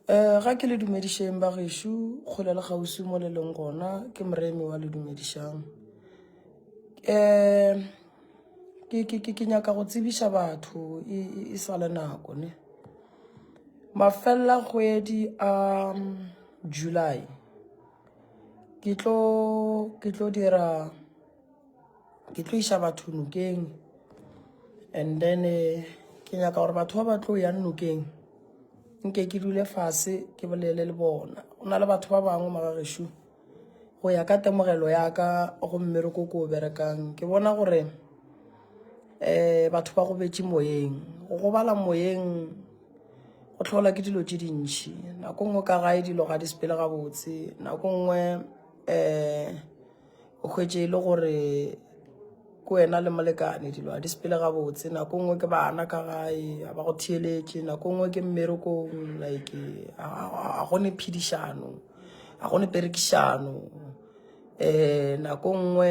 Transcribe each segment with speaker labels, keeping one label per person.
Speaker 1: um ga ke le dumedišeng ba gešo kgole le kgauswi mo le leng gona ke moremi wa le dumedišang um ke nyaka go tsebiša batho e, e, e sa le nako ne mafelela kgwedi a um, july ke tlo dira ke tlo iša batho nokeng and then eh, ke nyaka gore batho ba ba tlo yang nokeng nke ke dule fase ke bolele le bona go na le batho ba bangwe magagešu go ya ka temogelo ya ka go mmereko ko o berekang ke bona gore um batho ba go betše moyeng go gobala moyeng go tlhola ke dilo tse dintšhi nako nngwe ka gae dilo ga di sepele gabotse nako nngwe um o hwetše e le gore ke wena le molekane dilo a di sepele gabotse nako nngwe ke bana ka gae a ba go theeletše nako nngwe ke mmerekong like a gone phedišano a gone perekišano um nako nngwe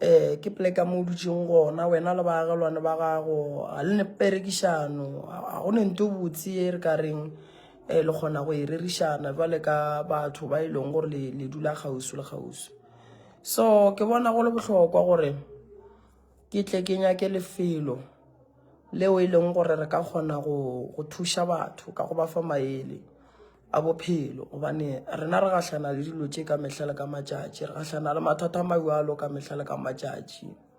Speaker 1: um ke pleka mo o dutseng gona wena le baagelwane ba gago ga le ne perekišano a gone nto botse e re ka reng e le kgona go e rerišana jwale ka batho ba e leng gore le dula kgausu le kgausu so ke bona go le bohlokwa gore ke tle ke nyake lefelo leo e leng gore re ka kgona go thuša batho ka go ba fa maele a bophelo gobane rena re gahlana le dilo tše ka mehla le ka matšatši re gahlana le mathata a majalo ka mehla le ka matšatši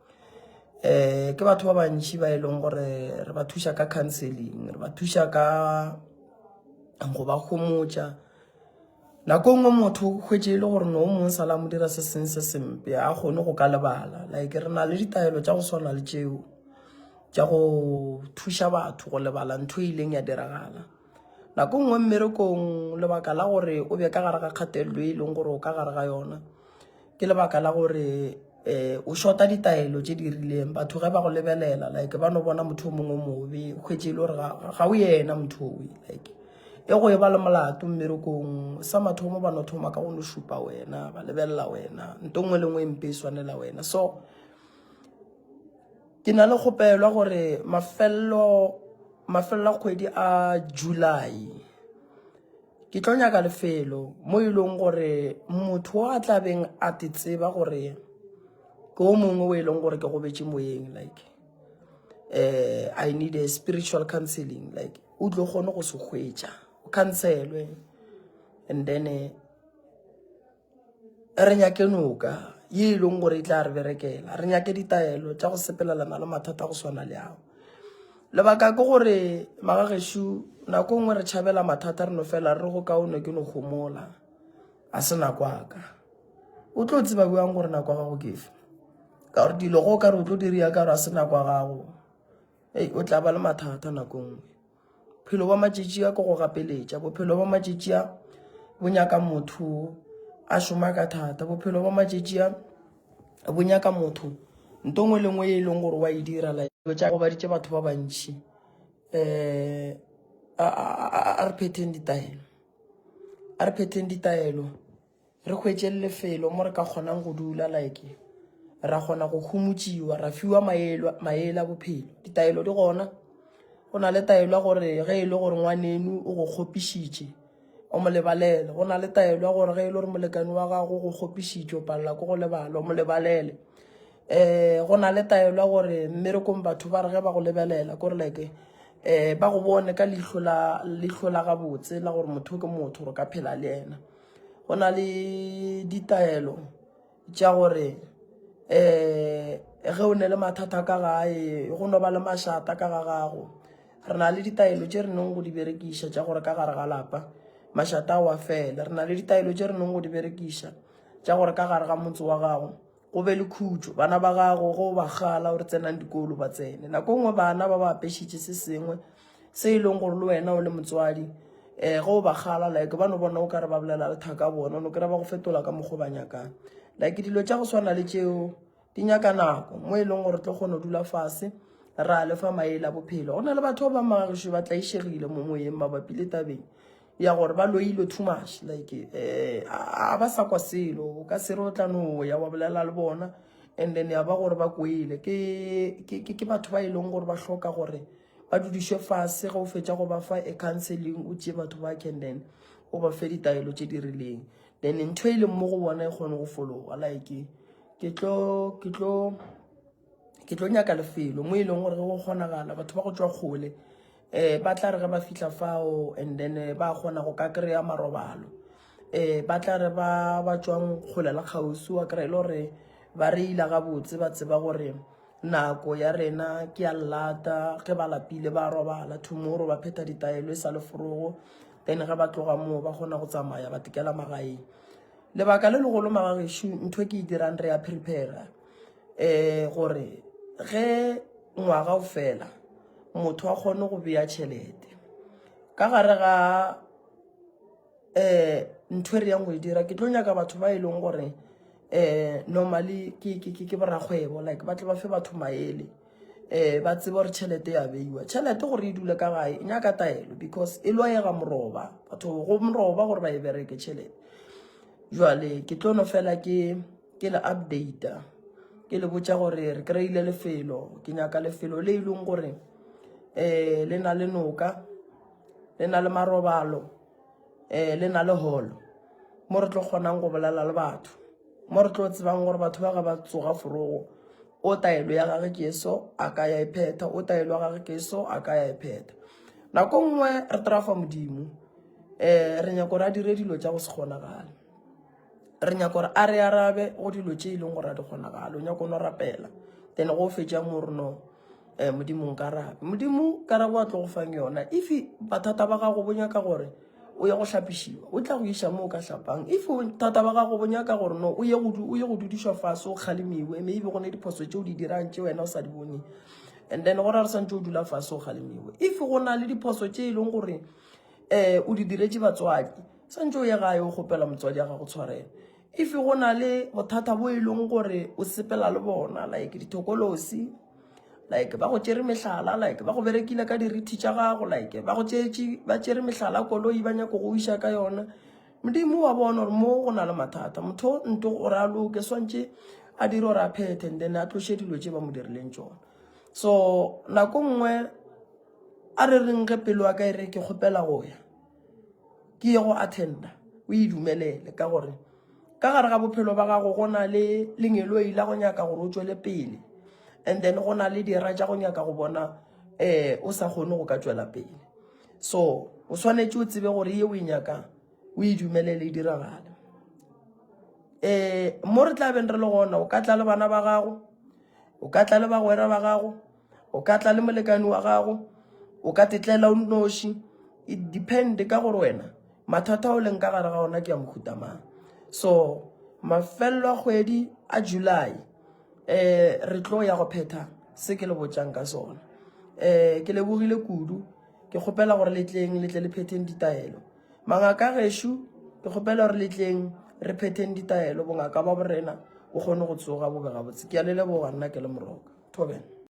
Speaker 1: eh ke batho ba bantši ba e leng gore re ba thuša ka counseling re ba thuša ka go ba gomotša nako e nngwe motho o hwetše e le gore no mong sala mo dira se seng se sempe a kgone go ka lebala like re na le ditaelo tša go swana le tšeo tša go thuša batho go lebala ntho e ileng ya diragala nako e nngwe mmerekong lebaka la gore o be ka gare ga kgatelelo e leng gore o ka gare ga yona ke lebaka la gore um o shota ditaelo tše di rileng batho ge ba go lebelela like ba no bona motho o mongwe mobe kgwetse e le gore ga o yena motho owe like e go e ba le molato mmerekong sa mathomo ba no thoma ka go no šupa wena ba lebelela wena nto nngwe le nngwe e mpe e swanela wena so ke na le kgopelwa gore mafelelo mafelelo a kgwedi a july Ke tlo nyaka lefelo mo e leng gore motho a tla beng a te tseba gore ke o mongwe o e leng gore ke gobetše moyeng like uh, I need a spiritual counseling like o tlo kgone go se hwetša o counselwe and then uh, re nyake noka ye e leng gore e tla re berekela re nyake ditaelo tša go sepelelana le mathata go swana le ao lebaka ke gore magagešu nako e nngwe re tšhabela mathata re no fela re go kaone ke no gomola a se nako aka o tlo tseba bjang gore nako ya gago ke fa ka gore dilo go ka re o tlo diri ya ka gore a se nako ya gago ei o tla ba le mathata nako e nngwe Bophelo bja matšatši a ke go gapeletša. Bophelo bja matšatši a bo nyaka motho a šoma ka thata. Bophelo bja matšatši a bo nyaka motho nto ngwe le ngwe e leng gore wa e dira la tša gobaditše batho ba bantši um a re phetheng ditaelo a re phetheng ditaelo. Re hwetše lefelo mo re ka kgonang go dula, like ra kgona go humutšiwa, ra fiwa maele a bophelo. Ditaelo di gona, go na le taelo ya gore ge e le gore ngwanenu o go kgopišitše, o mo lebalele. Go na le taelo ya gore ge e le gore molekane wa gago o go kgopišitše, o palela ke go lebala, o mo lebalele. Um go na le taelo ya gore mmerekong batho ba re ge ba go lebelela kore like um ba go bone ka leihlo la gabotse la gore motho o ke motho, gore o ka phela le yena. go na le ditaelo tša gore um ge o ne le mathata ka gae go no ba le mašata ka ga gago re na le ditaelo tše re neng go di berekiša tša gore ka gare ga lapa mašata a wa fele re na le ditaelo tše re neng go di berekiša tša gore ka gare ga motse wa gago Go be le khutšo, bana ba gago ge o ba kgala gore tsenang dikolo ba tsene. Nako nngwe bana ba ba apešitše se sengwe se e leng gore le wena o le motswadi um ge o ba kgala like ba no bona o kare ba bolela lethaka bona o no kry-a ba go fetola ka mokgwa o ba nyakang. Like dilo tša go swana le tšeo di nyaka nako mo e leng gore tlo kgona go dula fase ra lefa maele a bophelo. Go na le batho ba bangwe ba magagesho ba tlaišegile mo moyeng mabapi le tabeng ya gore ba loilwe too much like eh a ba sa kwa selo ka sero o tla no ya wa bolela le bona and then ya ba gore ba kwele ke ke ke batho ba e leng gore ba hloka gore ba dudišwe fase ge o fetša go ba fa a counseling o tšee batho ba can then o ba fe ditaelo tše di rileng then ntho e leng mo go bona e kgone go fologa like ke tlo ke tlo ke tlo nyaka lefelo mo e leng gore go kgonagala batho ba go tswa kgole um ba tla re ge ba fitlha fao and then eh, ba kgona go ka kry-a marobalo um ba tla re ba ba tswang kgole le kgaosi wa kry-e le gore ba re ila gabotse ba tseba gore nako ya rena ke ya lata ge ba lapile ba robala tomorrow ba phetha ditaelo e sa le forogo then ge ba tloga moo ba kgona go tsamaya ba tekela magaeng lebaka le legolo magagešu ntho e ke e dirang re ya prepara um gore ge ngwaga o fela motho a kgone go beya tšhelete ka gare ga um ntho e re yang go e dira ke tlo nyaka batho ba e leng gore um normally ke borakgwebo like ba tle ba fe batho maele um ba tsebe gore tšhelete ya beiwa tšhelete gore e dule ka gae e nyaka taelo because e lwayega moroba batho go moroba gore ba e bereke tšhelete jale ke tlono fela ke ke le updata ke le botša gore re kry-ile lefelo ke nyaka lefelo le e leng gore um le na le noka le na le marobalo um le na le holo mo re tlo kgonang go bolela le batho mo re tlo tsebang gore batho ba ga ba tsoga forogo o taelo ya gage ke so a ka ya e phetha o taelo ya gage ke so a ka ya e phetha nako nngwe re trafa modimo um re nyako re a dire dilo tša go se kgonagale re nyaka gore a re arabe go dilo tše e leng gore a di kgonagalo o nyaka o no rapela then go fetša mo re no um modimong karabe modimo karabo a tlo go fang yona if bathata ba gago bo nyaka gore o ye go hlapišiwa o tla go iša mo o ka hlapang if thata ba gago bo nyaka gore no o ye go dudišwa fase o kgalemiwe maybe go ne diphoso tše o di dirang tše wena o sa di boneng and then gore a re swantse o dula fase o kgalemiwe if go na le diphoso tše e leng gore um o di diretse batswadi Swantšhe o ye gae o kgopela motswadi ya gago tshwarelo. If go na le bothata bo e leng gore o sepela le bona like dithokolosi, like ba go tšere mehlala, like ba go berekile ka dirithi tša gago, like ba go tšetše ba tšere mehlala koloi ba nyako go iša ka yona. Modimo wa bona gore mo go na le mathata. Motho o nto gore a loke swantšhe a dire gore a phethe and then a tloše dilo tše ba mo dirileng tšona. So nako nngwe a re reng ge pelo ya ka e re ke kgopela go ya. ke ye go attenda o e dumelele ka gore ka gare ga bophelo ba gago go na le lengeloi la go nyaka gore o tswele pele and then go na le dira tša go nyaka go bona um o sa kgone go ka tswela pele so o swanetše o tsebe gore ye o e nyakang o e dumelele e diragale um mo re tla beng re le gona o ka tla le bana ba gago o ka tla le bagwera ba gago o ka tla le molekane wa gago o ka tetlela o nnoši it depend ka gore wena mathata o leng ka gare ga ona ke a mohuta mang so mafelelo a kgwedi a july um re tlo ya go phetha se ke le botšang ka sona um ke lebogile kudu ke kgopela gore letleng letle le phetheng ditaelo mangaka gešo ke kgopela gore letleng re phetheng ditaelo bongaka ba borena o kgone go tsoga bobe gabotse ke a le leboga nna ke le moroka thoben